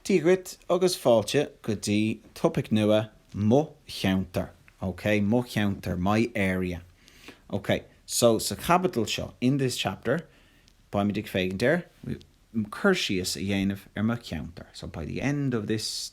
Dia dhuit agus fáilte go dtí topaic nua, Mo Cheantar, ok, Mo Cheantar, My Area. Ok, so sa chaibidil seo, in this chapter, beimid ag féachaint ar cur síos a dhéanamh ar mo cheantar, so by the end of this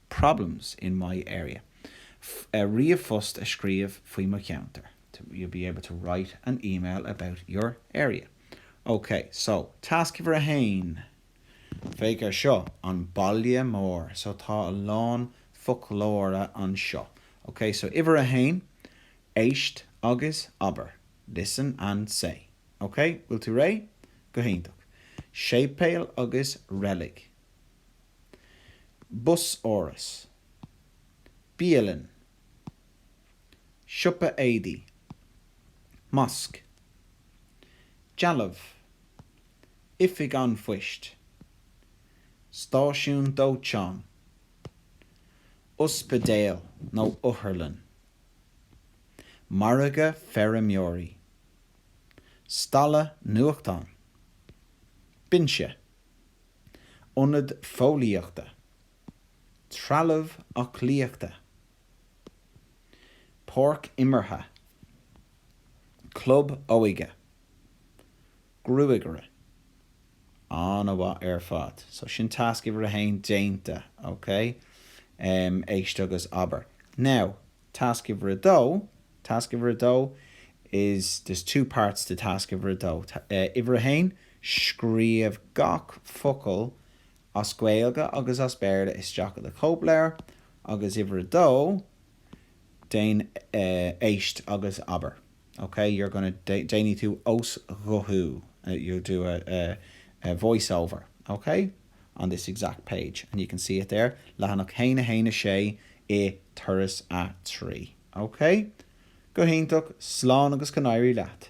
problems in my area ríomhphost a scríobh faoi mo cheantar you'll be able to write an email about your area ok so tasc uimhir a haon féach ar seo an baile mór so tá a lán foclóra anseo ok so uimhir a haon éist agus abair listen and say ok bhfuil tú réidh? go hiontach séipéal agus reilig Busáras. Bialann. Siopa éadaí. Mosc. Dealbh. Oifig an phoist. Stáisiún dóiteáin. Ospidéal nó otharlann. Margadh feirmeoirí. Stalla nuachtán. Binse. Ionad Fóillíochta, Trealamh Aclaíochta, Páirc Imeartha, Club Óige, Gruagaire. An-mhaith ar fad. So sin tasc uimhir a haon déanta, ok? Éist agus abair. Now. Tasc uimhir a dó, Tasc uimhir a dó is there's two parts to Tasc uimhir a dó. Uimhir a haon, Scríobh gach focal as Gaeilge agus as Béarla isteach i do chóipleabhar agus uimhir a dó, Déan, Éist agus Abair. Ok you're gonna déanfaidh tú osghuthú you'll do a voiceover ok on this exact page and you can see it there leathanach 1 1 6 i turas a 3 ok go hiontach slán agus go n-éirí leat.